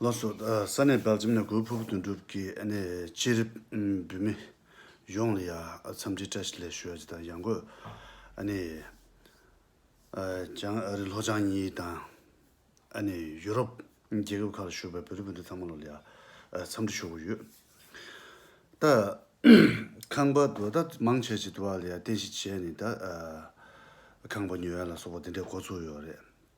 ལོ་སོ་ས་ནས་བལ་འཛུམ་ནས་གོས་ཕུབ་དོན་གྲུབ་ཀྱི་ཨ་ནེ་ཅི་རི་འབུད་མི་གཞོང་ལ་ཡ་འཚམས་འདྲི་བཀྲ་ཤིས་ལེགས་ཞུ་རྗེ་དང་ཡང་གོས་ཨ་ནེ་ལྕང་ཨ་རི་ལྷོ་བྱང་གཉིས་དང་ཨ་ནེ་ཡུ་རོབ་རྒྱལ་ཁབ་ཁག་ལ་བཞུགས་པའི་བོད་རིགས་བུ་ཕྲུག་ཚང་མ་ལོ་ལ་ཡ་འཚམས་འདྲི་ཞུ་གི་ཡོད། ད་ཁང་པ་དུ་ད་མང་ཆེ་བྱེད་དུ་བ་ལ་ཡ་རྟེན་གཞི་བྱས་ནས་ད་ཁང་པ་ཉོས་ཡ་ལ་སོགས་པ་དེ་འདྲའི་འགོ་བཙུགས་ཡོད་རེད།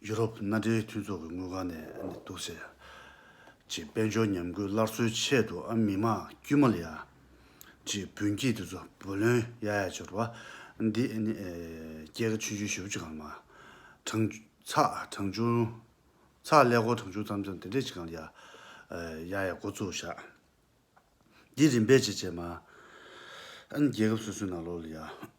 ཡུ་རོབ་མནའ་འབྲེལ་མཐུན་ཚོགས་ཀྱི་དངུལ་ཁང་ནས་ནི་འདུག་ཟེར། ཅེས་དཔལ་འབྱོར་ཉམས་རྒུད་སླར་གསོའི་ཆེད་དུ་ཨ་མི་མ་དཀྱུས་མ་ལ་ཡ། ཅེས་བུན་སྐྱིད་དེ་ཚོ་བུ་ལོན་ཡ་ཡ་འབྱོར་བ། འདི་ནི་སྐྱེས་ཀ་ཆུན་ཆུན་བཞི་བོ་གཅིག་གང་ལ་མ། གྲངས། ཚགས་གྲངས་ཆུང། ཚགས་ལས་སྒོར་གྲངས་ཆུང་ཙམ་ཙམ་དེ་འདྲས་གཅིག་གང་ལ་ཡ། ཡ་ཡ་འགོ་བཙུགས་བཞག། འདི་རིམ་པས་ཅེས་བྱས་མ། རྒྱལ་ཁབ་སོ་སོའི་ནང་ལོགས་ལ་ཡ།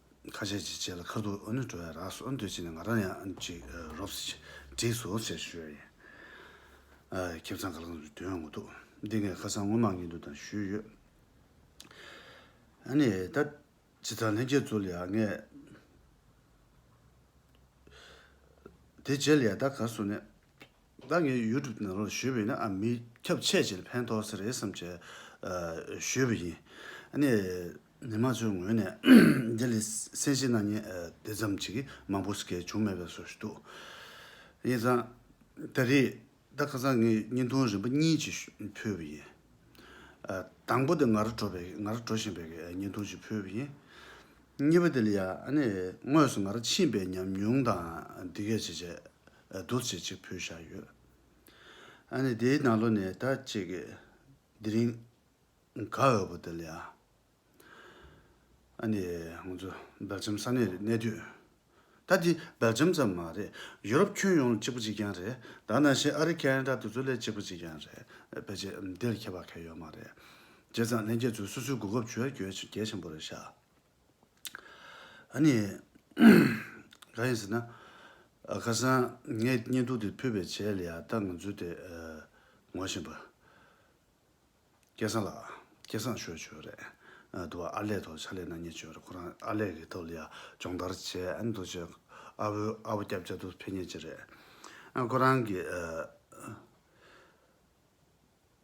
ཁ་ཆད་ཅིག་བྱས་ལ་ཁ་ཐུག་ཨུ་ནུ་འགྲོ་ཡ་རགས་སོ་འདོད་ཅིག་ནས་ང་རང་ཡང་ཅིག་རོབ་སི་ཅིག་བྲིས་སོ་ཟེར་ཞུ་ཡ་ཡིན། ཁྱིམ་ཚང་ག་ལ་གང་དུ་དོན་ཡོང་གི་འདུག་འདི་ངས་ཁ་སང་སྔོན་མ་ངེད་འདུག་དང་ཞུས་ཡོད། ཨཱ་ནི་ད་ཇི་ལྟར་ལྷན་རྒྱས་ཚུར་ལ་ཡག་ངས། དེ་རྗེས་ལ་ཡ་ད་གར་སོང་ནས། ད་ངས་ཡུལ་གྲུབ་ནང་རོགས་ཞུས་པ་ཡིན་ན་ཨ་མི་ཁྱབ་ཆེ་ཆེར་ཕན་ཐོགས་ས་རེད་བསམ་ཆེད་ཞུས་པ་ཡིན། ནས་མི་མང་ཚོའི་ངོས་ནས་འདི་ལས་སེམས་ཤེས་གནང་ཉེན་དེ་ཙམ་ཅིག་མང་པོ་ཞིག་བྱུང་མེད་པའི་བཟོ་འདུག་ཡིན་ཙང། ད་རེད་ད་ཁ་སང་ངས་བརྙན་ཐུང་རིམ་པ་གཉིས་ཅིག་ཕུལ་བ་ཡིན། དང་པོ་དེ་ང་རང་འགྲོ་བའི་ང་རང་འགྲོ་བཞིན་པའི་བརྙན་ཐུང་ཞིག་ཕུལ་བ་ཡིན། གཉིས་པ་དེ་ལ་ཡང་དངོས་སུ་ང་རང་ཕྱིན་པའི་ཉམས་མྱོང་དང་འདི་གས་བྱས་རྗེས་རྡོ་རྗེ་གཅིག་བུས་བཞག་ཡོད། ཨ་ནི་དེའི་ནང་ལོ་ནས་ད་ཅིག་གི་དེ་རིང་ག་འོས་པོ་འདི་ལ་ཡང། ཨ་ནི་ང་ཚོ་སྦེལ་ཇམ་ས་གནས་རེད་གནས་དུས། ད་འདི་སྦེལ་ཇམ་ཙམ་མ་རེད་ཡུ་རོབ་ཁྱོན་ཡོངས་ལ་གཅིག་པོ་གཅིག་རྐྱང་རེད་ད་ནང་བཞིན་ཨ་རི་ཀ་ནི་ད་དུ་ཚོ་ལས་གཅིག་པོ་གཅིག་རྐྱང་རེད་ཕལ་ཆེར་འདིར་ཁྱད་པར་ཁ་ཡོད་མ་རེད། བྱས་ཙང་ལྷན་རྒྱས་ཚོའི་སོ་སོའི་གོ་སྐབས་བྱོས་རྒྱུ་གལ་ཆེན་པོ་རེད་ཤག། ཨཱ་ནི། གང་ཡིན་ཟེར་ན། ཁ་སང་ངས་བརྙན་ཐུང་དེ་ཕུད་པའི་ཆེད་ལ་ཡང་ལྟ་ངོ་འཛུལ་དེ་ངོ་བཞིན་པ། སྐལ་བཟང་ལགས། སྐལ་བཟང་ཞོལ་བྱོས་རེད། དུ་བ་ཨར་ལས་ཐོག་ཕྱག་ལས་གནང་ཉེ་ཆོས་རེད་ཁོ་རང་ཨར་ལས་ཀྱི་ཐོག་ལ་ཡང་སྦྱོང་བརྡར་བྱས་ཨ་ནི་དོ་ཅེ། ཨ་བོའི་ཨ་བོ་སྐྱབས་བཅའ་དུ་ཕེབས་ཉེ་ཆེ་རེད། ཁོ་རང་གིས།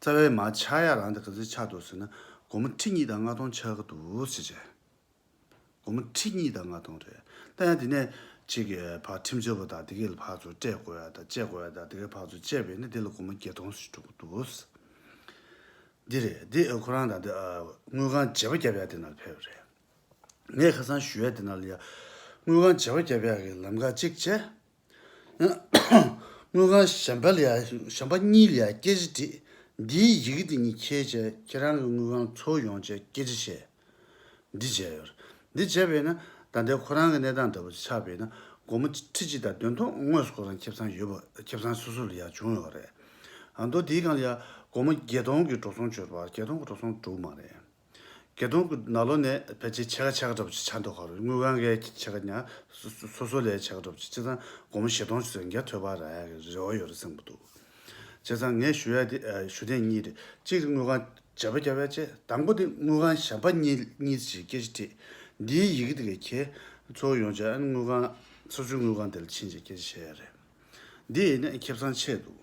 རྩ་བའི་མ་ཆག་ཡ་རང་དེ་ག་ཚོད་ཆག་འདུག་ཟེར་ན་སྒོར་མོ་ཁྲི་གཉིས་དང་ལྔ་སྟོང་ཆག་གི་འདུག་ཟེར་བྱས། སྒོར་མོ་ཁྲི་གཉིས་དང་ལྔ་སྟོང་རེད་ད་ཡང་དེ་ནས་གཅིག་གི་བག་ཁྲིམས་བཅོལ་བ་དང་དེ་གའི་ལ་ཕག་ཚོ་སྤྲད་དགོས་ཡ་དང་བཅད་དགོས་ཡ་དང་དེ་གའི་བག་ཚོ་བཅད་པས་ནི་དེ་ལ་སྒོར་མོ་བརྒྱད་སྟོང་ཞིག་འགྲོ་གི་འདུག་ཟེར། འདི་རེད་འདི་ཁོ་རང་དང་འདི་དངུལ་ཁང་བརྗེ་བ་བརྒྱབ་ཡ་དེ་ན་ལ་ཕེབས་རེད། ངས་ཁ་སང་ཞུས་ཡ་དེ་ན་ལ་ཡ། དངུལ་ཁང་བརྗེ་བ་བརྒྱབ་ཡ་གི་ལམ་ཁ་གཅིག་བཅད། དངུལ་ཁང་གཞན་པ་གཉིས་ལས་སྐད་ཆ་དྲིས། འདིའི་ཡི་གེ་དེ་གཉིས་ཁྱེར་བྱས་ཁྱེད་རང་གི་དངུལ་ཁང་འཚོལ་ཡོང་བྱས་སྐད་ཆ་བཤད། འདི་བྱས་ཡོད། འདི་བྱས་པས་ན་ད་ལྟའི་ཁོ་རང་གི་གནས་སྟངས་ལྟ་བུ་ཆགས་པས་ན་སྒོར་མོ་ཁྲི་གཅིག་དང་དོན་ཐོག་དངོས་སུ་ཁོ་རང་ཁེབས་ཚང་ཡོད་པ་ཁེབས་ཚང་སོ་སོ་ལ་ཡང་བྱུང་ཡོད་པ་རེད། མདོ་དེའི་སྒང་ལ་ཡང་སྒོར་མོ་བརྒྱད་སྟོང་གི་འགྲོ་སོང་བྱོས་པ་བརྒྱད་སྟོང་གི་འགྲོ་སོང་འགྲོ་གི་མ་རེད། དགེ་མཐོང་གི་ནགས་ལོ་ནས་ཕལ་ཆེར་ཕྱེད་ཀ་ཕྱེད་ཀ་འདྲ་པོ་ཅིག་ཆགས་འདུག་ཁར་དངུལ་གང་གཱའི་ཕྱེད་ཀ་ཉག་སོ་སོ་ལས་ཕྱེད་ཀ་འདྲ་པོ་ཅིག་སྤྱི་ཚང་སྒོར་མོ་ཞེ་སྟོང་ཅུ་ཚན་བརྒྱ་ཐོས་པ་ར་ཡག་གི་རེ་བ་ཡོད་རེད་གསུངས་པ་འདུག་བྱས་ཙང་ངས་ཞུ་ཡག་དེ་ཞུ་གཏན་གཉིས་རེད་གཅིག་དངུལ་གང་བྱེད་པ་བརྒྱ་བས་ཆེ་དང་པོ་དེ་དངུལ་གང་བྱེད་པ་གཉིས་གཉིས་ཅིག་སྐད་ཆ་དྲིས་འདིའི་ཡི་གེ་དེ་གས་ཁྱེད་ཚོ་ཡོང་ཆ་ཨན་དངུལ་གང་སོ་སོའི་དངུལ་གང་དེ་ལ་ཕྱིན་ཅིག་སྐད་ཆ་བཤད་ཡག་རེད་འདི་ཨེ་ནས་ཁེབས་ཚང་ཆད་འདུག།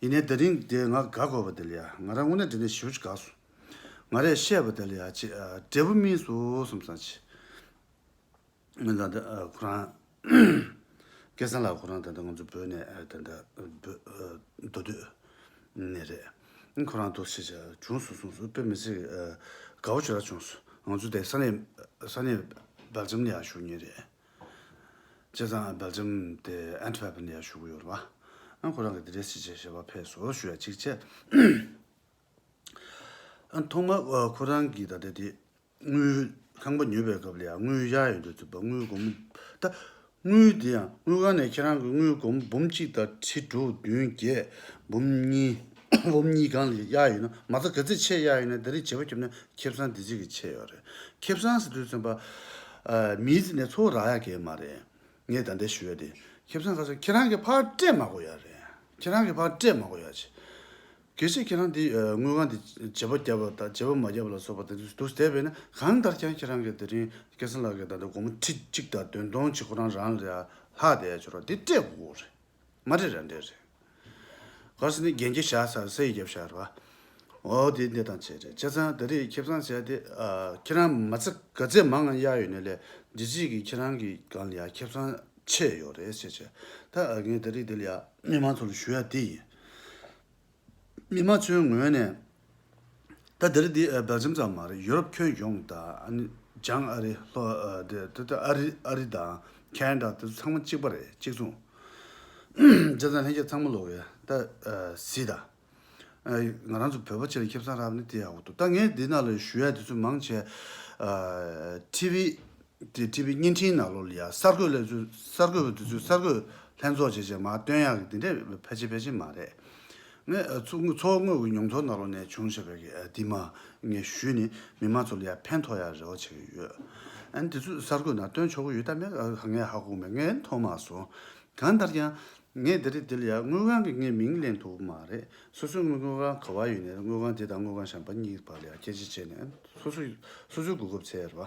ཡིན་ནའི་དེ་རིང་འདི་ང་དགའ་དགོས་པ་དེ་ལ་ཡ་ང་རང་དངོས་གནས་འདི་ནས་ཞེ་བོ་ཅིག་དགའ་སོང། ང་རས་བཤད་པ་དེ་ལ་ཡ་ཅེས་འབྲས་བུ་སྨིན་སོ་སོམ་སང་ཆེ། སྨིན་སང་འདི་ཁོ་རང། སྐལ་བཟང་ལགས་ཁོ་རང་ད་ལྟ་ང་ཚོ་བོད་ནས་ད་ལྟ་བོད་མདོ་སྟོད་ནས་རེད། ཁོ་རང་དོགས་གཞི་ཅིག་བྱུང་སོང་གསུངས་སོ་དཔེ་མི་སྲིད་དགའ་བོ་ཅིག་ར་བྱུང་སོང་ང་ཚོ་དེ་ས་གནས་ས་གནས་སྦེལ་ཇམ་ནས་ཡང་བཞུགས་ཉེན་རེད། བྱས་ཙང Belgium དེ Antwerp ནས་བཞུགས་ཡོད་རེད་བ། ཨ་ཁོ་རང་གི་འདི་འདྲའི་བྱེད་བྱ་བ་ཕས་བཟོ་བོར་ཞུ་ཡ་གཅིག་བྱས། ཐོག་མར་ཁོ་རང་གི་ད་ལྟ་དེ་དངུལ་ཁང་པ་ཉོས་པའི་སྐབས་ལ་ཡང་དངུལ་གཞག་ཡོད་འདུག་ཟེར་བ་དངུལ་སྒོར་མོ་ད་དངུལ་དེ་ཡང་དངུལ་ཁང་ནས་ཁྱེད་རང་གི་དངུལ་སྒོར་མོ་འབུམ་གཅིག་དང་ཁྲི་དྲུག་བདུན་བརྒྱད་འབུམ་གཉིས། འོམ་གཉིས་གང་ལ་གཡག་ཡོད་ན་མ་རྩ་ག་ཚིག་ཆེ་གཡག་ཡོད་ན་དེ་རིགས་བྱེད་པོ་ཁྱོད་ནི་ཁེབས་སང་དེ་ཅིག་གི་ཆེ་ཡོད་རེད་ཁེབས་སང་ཟེར་དུས་ཚོན་པ་མིའི་རྩིས་ནས་ཚོ་བོ་རག་ཡག་གེ་མ་རེད་ངས་ད་འདྲས་ཞུ་ཡག་དེ་ཁེབས་སང་ག་ཚོད་ཁྱེད་རང་གི་ཕར་སྤྲད་མ་གོ་ཡག་རེད་ཁྱེད་རང་གི་ཕར་སྤྲད་མ་གོ་ཡག་ཆེ་གེ་ཆེ་ཁྱེད་རང་དེ་དངུལ་ཁང་དེ་བྱེད་པོ་རྒྱབ་པ་དང་བྱེད་པོ་མ་རྒྱབ་པ་ལ་སོགས་པ་དེ་ཚོ་དུས་དེ་བས་ན་གང་ལྟར་ཀྱང་ཁྱེད་རང་གི་དེ་རིང་སྐལ་བཟང་ལགས་ཀྱི་ད་ལྟ་སྒོར་མོ་ཁྲི་གཅིག་དང་དོན་སྟོང་ཆིག་ཁོ་རང་རང་ལ་ཡག་ལྷག་དེ་ཡག་ཆོ་རོག་དེ་སྤྲད་དགོ་གོ་རེད། མ་རེད་ར་འདྲེ་རེད། གར་སི་ནི་རྒྱན་གྱི་ཞག་ས་སའི་རྒྱབ་ཞག་རེད་བ། འོ་དེ་འདི་དང་བྱས་རེད་ཁྱེད་ཚང་ད་རེས་ཁེ་བཟང་བྱས་ཏེ་ཁྱེད་རང་མ་ཚེ་ག་ཚད་མང་ང་གཡར་ཡོད་ནས་ལས་འདི་གཅིག་གིས་ཁྱེད་རང་གི་གང་ལ་ཡང་ཁེ་བཟང་ཆད་ཡོད་རེད་ཟེར་བྱས་ད་ངས་ད་རེས་འདི་ལ་ཡང་མི་མང་ཚོ་ལ་ཞུ་ཡ་དེ་ཡིན། མི་དམངས་ཚོའི་ངོས་ནས། ད་དེར་འདི་སྦེལ་ལྗམ་ཙམ་མ་རེད་ཡུ་རོབ་ཁྱོན་ཡོངས་དང། བྱང་ཨ་རི། ཨ་རི་དང། ཁན་ད་དེ་ཚང་མ་གཅིག་པ་རེད་གཅིག་མཚུངས། ལྗ་ཚང་ལྷན་རྒྱས་ཚང་མ་ལོ་ཝེ། ད་སི་ད། ང་རང་ཚོ་བོད་པ་ཆེར་ཁྱབ་སང་ར་བ་ནི་དེ་ཡག་པོ་འདུག་ད་ངས་འདི་ན་ལོ་ཞུ་ཡ་དེ་ཚོ་མང་ཆེ། ཏི་བི། དེ་བྲིས་པའི་བརྙན་འཕྲིན་ནང་ལོ་ལ་ཡ་གསར་འགོད་ལས་ཚོས་གསར་འགོད་པའི་དུས་ཚོད་གསར་འགོད་ལྷན་ཚོགས་བྱས་རྗེས་མ་བཏོན་ཡག་གི་དེ་འདྲས་ཕལ་ཆེར་ཕལ་ཆེར་མ་རེད། ངས་ཚོ་ངོས་ཀྱི་མྱོང་ཚོར་ནང་ལོ་ནས་བྱུང་བྱས་པའི་གི་དེ་མ་ངས་ཞུས་ནས་མི་མང་ཚོ་ལ་ཡ་ཕན་ཐོག་ཡག་རེ་བ་བྱས་གི་ཡོད། ཨན་དེ་ཚོས་གསར་འགོད་ནང་བཏོན་ཆོག་གི་ཡོད་ད་མེད་ག་ངས་ཧ་གོ་མེད་ངས་མཐོང་མ་སོང། གང་ལྟར་ཀྱང། ངས་དེ་རིང་དེ་ལ་ཡ་དངུལ་ཁང་གི་ངའི་མིང་གླེང་ཐུབ་མ་རེད་སོ་སོའི་དངུལ་དངུལ་ཁང་ག་བ་ཡོད་ནས་དངུལ་ཁང་དེ་དང་དངུལ་ཁང་གཞན་པ་གཉིས་བར་ལ་ཡ་ཁྱད་གཞི་བྱས་ནས་སོ་སོ་སོ་སོའི་གོ་སྐབས་ཚེ་ར།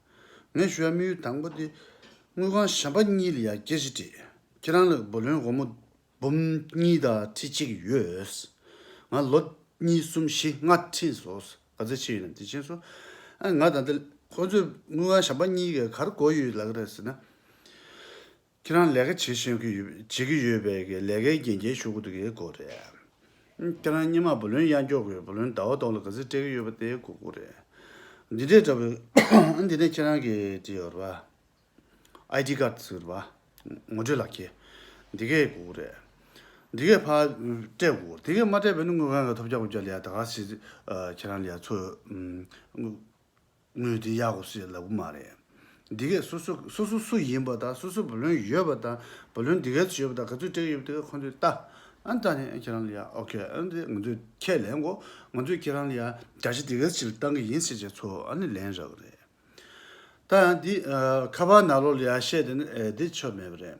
ངས་ཞུ་བ་མི་ཡུལ་དང་པོ་དེ། དངུལ་ཁང་གཞན་པ་གཉིས་ལ་ཡང་སྐྱེལ་བཞི་བྲིས། ཁྱེད་རང་ལ་བུ་ལོན་སྒོར་མོ་འབུམ་གཉིས་དང་ཁྲི་གཅིག་ཡོད། ང་ལོ་གཉིས་གསུམ་བཞི་ལྔ་ཁྲིད་བཟོས། ག་ཚོད་ཕྱིན་ཡོད་ནམ་དེ་ཕྱིན་སོང། ང་ད་ལྟ། ཁོ་ཚོས་དངུལ་ཁང་གཞན་པ་གཉིས་ཀྱི་གར་གོ་ཡོད་ལགས་རེད་ཟེར་ན། ཁྱེད་རང་ལས་ཀ་བྱེད་བཞིན་བྱེད་ཀྱི་ཡོད་པའི་གི་ལས་ཀའི་རྒྱན་འཁྱེར་ཤོར་གི་འདུག་གི་སྐོར་རེད། ཁྱེད་རང་སྙེ་མ་བུ་ལོན་གཡང་འཁྱོག་གི་བུ་ལོན་ཟླ་བ་ཐོག་ལ་ག་ཟིག་སྤྲད་ཀྱི་ཡོད་པ་དེའི་སྐོར་སྐོར་རེད། འདི་འདྲས་འདྲ་བའི་འདི་ནས་ཁྱེད་རང་གི་དེ་ཡོད་རེད་པ། ID card ཟེར་རེད་པ། ངོ་སྤྲོད་ལག་འཁྱེར། འདི་གའི་སྐོར་སྐོར་རེད། འདི་གའི་ཕར་སྤྲད་དགོས་སྐོར་འདི་གའི་མ་སྤྲད་པས་ནི་དངུལ་གང་གི་ཐོབ་བྱ་དགོས་བྱ་ལས་ཡ་ད་ག་ཟིག་ཁྱེད་རང་ལས་ཡ་ཚོས། དངོས་དེ་ཡག་གོ་སེ་ལབ་གི་མ་རེད། འདི་གས་སོ་སོ་སོ་སོ་སུ་ཡིན་པ་དང་སོ་སོ་བུ་ལོན་ཡོད་པ་དང་བུ་ལོན་འདི་གས་ཡོད་པ་དང་ག་ཚོད་སྤྲད་ཡོད་པ་དེ་གས་ཁོ་ཚོས་ལྟ། ཨ་ད་ནས་ཁྱེད་རང་ལ་ཡག་ཨོ་ཁེ་ཨ་ད་ང་ཚོས་ཁྱེད་ལེན་གོ་ང་ཚོས་ཁྱེད་རང་ལ་ཡག་བརྒྱ་ཆ་དེ་གས་ཕྱིར་བཏང་གི་ཡིན་ཟེར་བྱས་ཚོ་ཨ་ནི་ལེན་རག་རེད། ད་ཡང་འདི་ཁ་བ་ན་ལོ་ལ་ཡག་བཤད་དེ་ནི་འདི་ཆོ་མེད་པ་རེད།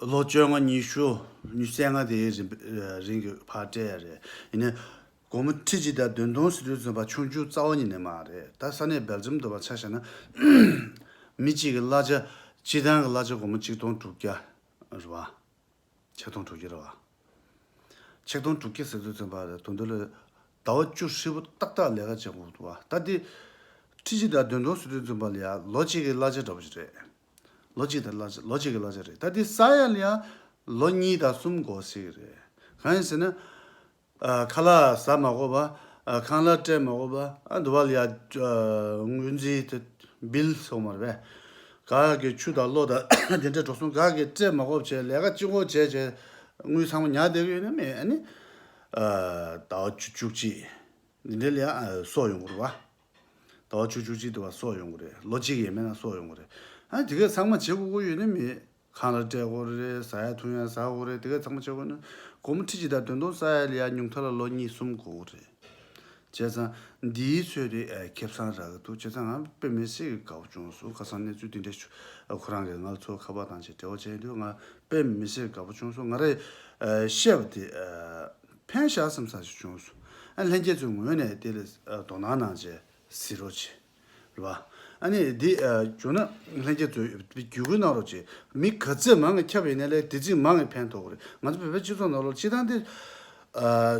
ལོ་བཅོ་ལྔ་ཉི་ཤུ་ཉི་བརྒྱད་ལྔ་དེའི་རིང་གི་བར་སྤྲད་ཡ་རེད། ཡིན་ནའི། དགོང་མོ་ཁྲི་གཅིག་དང་བདུན་སྟོང་ཟེར་དུས་བཙོན་པ་ཆུང་བཅུ་རྩ་བ་ཉིད་ནས་མ་རེད་ད་ས་གནས་སྦེལ་ཇམ་དུ་བ་ཆ་བཞག་ན། མི་གཅིག་གི་གླ་ཆ་སྤྱི་བཏང་གི་གླ་ཆ་དགོང་མོ་གཅིག་སྟོང་དྲུག་བརྒྱ་རེད་བ། ཆིག་སྟོང་དྲུག་བརྒྱ་རེད་བ། ཆིག་སྟོང་དྲུག་བརྒྱ་ཟེར་དུས་བཙོན་པ་རེད་དོ་འདི་ལོ་ཟླ་བ་བཅུ་ཧྲིལ་བོ་ཏག་ཏག་ལས་ཀ་བྱེད་འགོ་བ་ད་འདི། ཁྲི་གཅིག་དང་བདུན་སྟོང་ཟེར་དུས་བཙོན་པ་ལ་ཡ་ལོ་གཅིག་གི་གླ་ཆ་འདྲ་པོ་ཞིག་རེད། ལོ་གཅིག་དང་གླ་ལོ་གཅིག་གི་གླ་ཆ་རེད་ད་དེ་ཟ་ཡ་ལ་ཡང་ལོ་གཉིས་དང་གསུམ་འགོར་སྲིད་རེད་གང་ཡིན་ཟེར་ན། ཁ་ལག་ཟ་མ་གོ་བ་ཁང་གླ་སྤྲད་མ་གོ་བ་ཨ་འདུ་བ་ལ་ཡང་དངུལ་རྩིས་དེ Bill སོང་མ་རེད་པས། ག་གི་ཆུ་དང་གློག་དང་དེ་འདྲས་འགྲོ་སོང་ག་གི་སྤྲད་མ་གོ་བ་བྱས་ལས་ཀ་ཅི་འགོ་བྱས་བྱས་དངུལ་ཚང་མ་ཉག་བསྡད་གི་ཡོད་ནི་མེད་ཨ་ནི། ཟླ་བ་བཅུ་བཅུ་གཅིག་འདི་འདྲས་ལ་ཡང་སོག་ཡོང་དགོས་རེད་བ། ཟླ་བ་བཅུ་བཅུ་གཅིག་དུ་བ་སོགས་ཡོང་གི་རེད་ལོ་གཅིག་ཡས་མས་ན་སོགས་ཡོང་གི་རེད་ཨ་དེ་གས་ཚང་མ་བྱེད་དགོས་དགོས་ཡོད་ནི་མེད་ཁང་ལ་བསྐྲད་དགོས་རེད་ཟ་ཡ་འཐུང་ཡ་ཟ་དགོས་རེད་དེ་གས་ཚང་མ་བྱེད་དགོས་ན་སྒོར་མོ་ཁྲི་གཅིག་དང་དོན་སྟོང་ས་ཡ་ལ་ཡ་ཉུང་མཐའ་ལ་ལོ་གཉིས་གསུམ་དགོས་གི་རེད་བྱས་ཙང་འདིའི་ཚོད་དེ་ཁེབས་ཚང་རག་གི་འདུག་བྱས་ཙང་ང་དཔེ་མེད་ཟིག་གི་དགའ་བོ་བྱུང་སོང་ཁ་སང་གནས་ཚུལ་འདི་འདྲ་བྱུང་ཁོ་རང་གས་ང་ཚོ་ཁ་པར་དང་བཅས་འབྲེལ་བ་བྱས་ཡོད་དུས་ང་དཔེ་མེད་ཟིག་གི་དགའ་བོ་བྱུང་སོང་ང་རས་བཤད་པ་དེ་ཕན་བཞག་སམ་ཟ་ཞིག་བྱུང་སོ། ལྷན་རྒྱས་ཚོའི་ངོས་ནས་དེ་ལ་དོ་སྣང་གནང་རྗེས་ཟིན་རོགས་བྱས། ལ། ཨ་ནི་འདི་བྱུང་ན་ལྷན་རྒྱས་ཚོས་བརྒྱུད་སྐུལ་གནང་རོགས་བྱས། མི་ག་ཚོད་མང་ངེ་ཁྱབ་ཡིན་ན་ལས་དེ་ཚིག་མང་ངེ་ཕན་ཐོག་གི་རེད། ང་ཚོ་བོད་པའི་སྤྱི་ཚོགས་ནང་ལོག་སྤྱི་དང་དེ།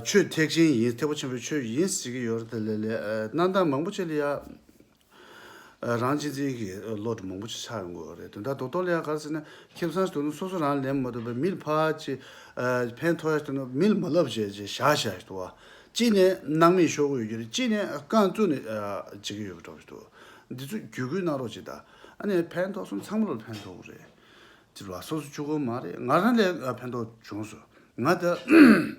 ཆོས་ཐེག་ཆེན་ཡིན་ཐེག་པ་ཆེན་པོའི་ཆོས་ཡིན་ཟེར་གི་ཡོད་རེད་ལ་ལས་གནང་སྟངས་མང་པོ་བྱས་ལ་ཡ། རང་གཅེས་འཛིན་གྱི་བློ་གྲོས་མང་པོ་ཞིག་ཆགས་ཡོང་དགོས་པ་རེད་དོན་དག་དོག་དོག་ལ་ཡང་ག་རེ་ཟེར་ན་ཁེ་བཟང་ཞིག་ཐོན་ནས་སོ་སོ་རང་ལེན་མ་ཐུབ་པའི་མིལ་ཕ་ཅེ། ཕན་ཐོགས་ཡ་ཐོན་ནས་མིལ་མ་ལབ་བྱས་བྱས་ཞག་ཞག་ཞིག་ཏུ། གཅིག་ནས་སྣང་མེད་ཤོར་གི་ཡོད་རྒྱུ་རེད་གཅིག་ནས་རྐང་བཙུགས་ནས་བྱེད་ཀྱི་ཡོད་པ་གྲོགས་ཞིག་ཏུ། འདི་ཚོ་བརྒྱུད་སྐུལ་གནང་རོགས་གཅིག་དང། ཨ་ནེ་ཕན་ཐོགས་སོང་ཚང་མ་ལ་ཕན་ཐོགས་གི་རེད། ཅེས་པ་སོ་སོ་ཆུ་ཁོལ་མ་རེད་ང་རང་ལས་ཕན་ཐོགས་བྱུང་སོང་ང་ད།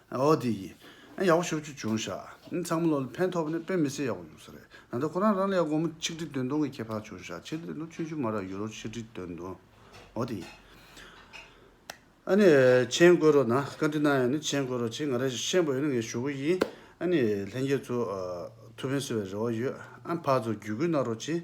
འོ་དེ་ཡིན། ཨ་ཡག་པོ་ཤོག་ཆུ་བྱུང་ཤག། ཚང་མ་ལོ་ལ་ཕན་ཐོགས་པ་ནི་དཔེ་མི་སྲིད་ཡག་པོ་ཡོང་ས་རེད། ད་ལྟ་ཁོ་རང་རང་ལ་ཡང་སྒོར་མོ་ཆིག་ཁྲི་དོན་སྟོང་གི་ཁྱད་འཕགས་བྱུང་ཤག་ཆིག་ཁྲི་དོན་སྟོང་ཆུན་ཆུན་མ་རག་ཡུ་རོ་ཆིག་ཁྲི་དོན་སྟོང། འོ་དེ་ཡིན། ཨ་ནི། མཆན་བཀོད་རོགས་གནང། བཀའ་དྲིན་གནང་ཡོད་ནི་མཆན་བཀོད་རོགས་བྱས་ང་རང་ཤེས་པ་ཡོད་ནི་ངའི་ཞུ་སྒོ་ཡིན། ཨ་ནི། ལྷན་རྒྱས་ཚོ། ཐུགས་ཕན་གསོས་པའི་རེ་བ་ཡོད། ཨ་འཕགས་ཚོ་བརྒྱུད་སྐུལ་གནང་རོགས་གྱིས།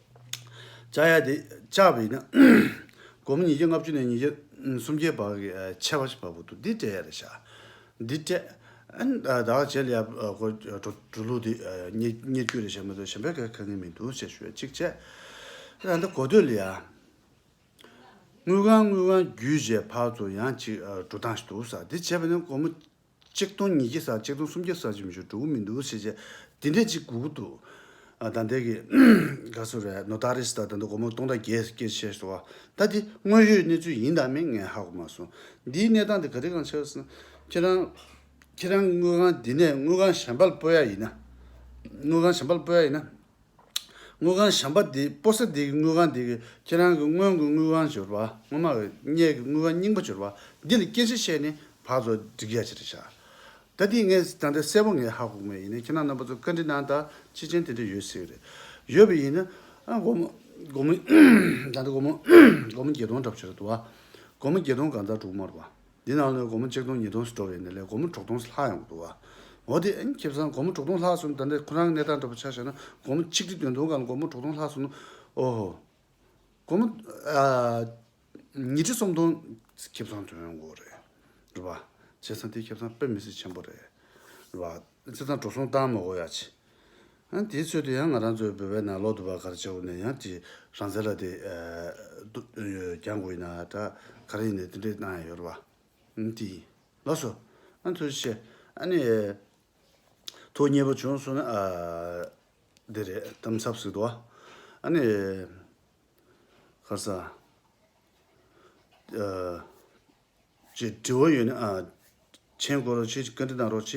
བཅའ་ཡས་དེ་བཅའ་བས་ན། སྒོར་མོ་ཉིས་བརྒྱ་ལྔ་བཅུ་ནས་ཉིས་བརྒྱ་སུམ་བརྒྱའི་བར་གྱི་ཆད་པ་ཞིག་བབས་འདུག་འདི་སྤྲད་ཡས་ལ་བཞག། འདི་སྤྲད། བདག་བྱས་ལ་ཡབ་ཁོ་གྲུ་ལུགས་དེ་རྙེད་རྒྱུ་རེད་བྱས་མ་ཐུབ་གཞན་པའི་ག་ངས་མི་འདུག་ཅེས་ཞུ་ཡས་གཅིག་བཅད། ད་ལྟ་གོ་ཐོས་ལ་ཡ། དངུལ་ཁང་དངུལ་ཁང་བརྒྱུད་བྱས་ཕར་ཚུར་ཡང་གཅིག་གྲུ་ཐང་ཞིག་འདུག་ས་འདི་བྱས་པས་ན་སྒོར་མོ་གཅིག་སྟོང་ཉིས་བརྒྱ་ས་གཅིག་སྟོང་སུམ་བརྒྱ་ས་བཅུ་བཞི་དྲུག་མི་འདུག་བྱས་རྗེས་འདི་འདྲས་གཅིག་གུག་གུག་འདུག་ད་འདས་ཀྱི་ག་ཚོད་རེད་ནོ་ད་རེས་ད་ལྟ་འདི་སྒོར་མོ་སྟོང་དང་བརྒྱད་བརྒྱ་བྱས་སོང་བ་ད་འདི་དངོས་ཡོད་གནས་ཚུལ་ཡིན་དང་མིན་ངས་ཧ་གོ་མ་སོང་འདིའི་གནས་སྟངས་འདི་ག་རེ་གང་ཆགས་སམ་ཁྱེད་རང་ཁྱེད་རང་དངུལ་ཁང་འདི་ནས་དངུལ་ཁང་གཞན་པར་སྤོ་ཡ་ཡིན་ན་དངུལ་ཁང་གཞན་པར་སྤོ་ཡ་ཡིན་ན། དངུལ་ཁང་བཤམས་པ་འདིས་སྤོ་ས་འདི་གི་དངུལ་ཁང་འདི་གི་ཁྱེད་རང་གི་སྔོན་གྱི་དངུལ་ཁང་བྱོར་བ་སྔོན་མ་གི་སྙད་ཀྱི་དངུལ་ཁང་རྙིང་པ་བྱོར་བ་འདི་ལ་སྐྱེན་ཤ་བཤད་ནས་བག་ཙོ་སྒྲིག་རྒྱ་ཆེ་རེ་བྱ། ད་འདི་ངས་ད་འདི་གསལ་པོ་ངས་ཧ་གོ་ངེས་ཡིན་ནས་ཁྱེད་རང་རྣམ་པ་ཚོ་བཀའ་འདྲི་གནང་དང་ཅི་ཅན་དེ་འདྲ་ཡོད་སྲིད་རེད། ཡོད་པ་ཡིན་ན་སྒོར་མོ་སྒོར་མོ་ད་འདི་སྒོར་མོ་སྒོར་མོ་བརྒྱད་སྟོང་འདྲ་བྱོ་རེ་བདུ་བ་སྒོར་མོ་བརྒྱད་སྟོང་གང་ཙར་དྲུག་མར་བ། འདི་ནང་ལོའི་སྒོར་མོ་གཅིག་སྟོང་ཉིས་སྟོང་སུ་འགྲོ་བའི་ནི་ལས་སྒོར་མོ་དྲུག་སྟོང་ལྷག་ཡོང་གི་འདུག་བ། འོ་དེ་ཨེ་ཁྱེད་བཟང་སྒོར་མོ་དྲུག་སྟོང་ལྷག་སོང་ད་འདྲ་ཁོ་རང་གི་གནས་སྟངས་འདྲ་པོ་ཆགས་བཤད་ན་སྒོར་མོ་ཆིག་ཁྲི་དོན་སྟོང་གང་སྒོར་མོ་དྲུག་སྟོང་ལྷག་སོང་ན་འོ་ཧོ། སྒོར་མོ། ཉིས་ཁྲི་སུམ་སྟོང་ཁྱེད་བཟང་དོན་གོ་རེད། རེད་པ། བྱས་ཙང་དེ་ཁྱེད་བཟང་དཔེ་མི་སྲིད་ཆེན་པོ་རེད། རེད་པ། ཚེ་དང་གྲོ་སོང་སྟག་མོ་ཨོ་ཡ་ཆེ། ཨ་དེའི་ཚོད་དུ་ཡང་ང་རང་ཚོའི་བོད་པའི་ནང་ལོག་ཏུ་བ་གར་བྱའོ་ནས་ཡང་ཀྱི་རང་བཙན་ལ་དེ། རྒྱང་དགོས་ཡིན་ན་ད་ག་རེ་ཡིན་ནས་དེ་འདྲས་གནང་ཡ་ཡོད་རེད་བ། ཨ་དེ། ལགས་སོ། ཨ་ཚོད་བཤད། ཨ་ནི། ཐུགས་མཉེས་པོ་བྱུང་སོང་ན་ཨ། དེ་རེད་གཏམ་ཚབ་ཟིག་དུ་བ། ཨ་ནི། ཁར་ས། ཅེས་དྲི་བ་ཡོད་ན། མཆན་བཀོད་རོགས་བྱས་བཀའ་འདྲི་གནང་རོགས་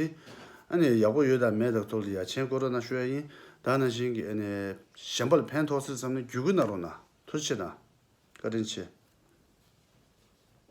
བྱས། ཡག་པོ་ཡོད་དང་མེད་དང་ཐོག་ལ་ཡ་མཆན་བཀོད་རོགས་གནང་ཞུ་ཡ་ཡིན། ད་ནང་བཞིན་གྱི་གཞན་པ་ལ་ཕན་ཐོགས་སེ་བསམ་ནས་བརྒྱུད་སྐུལ་གནང་རོགས་གནང་ཐུགས་ཆེ་དང། བཀའ་དྲིན་ཆེ།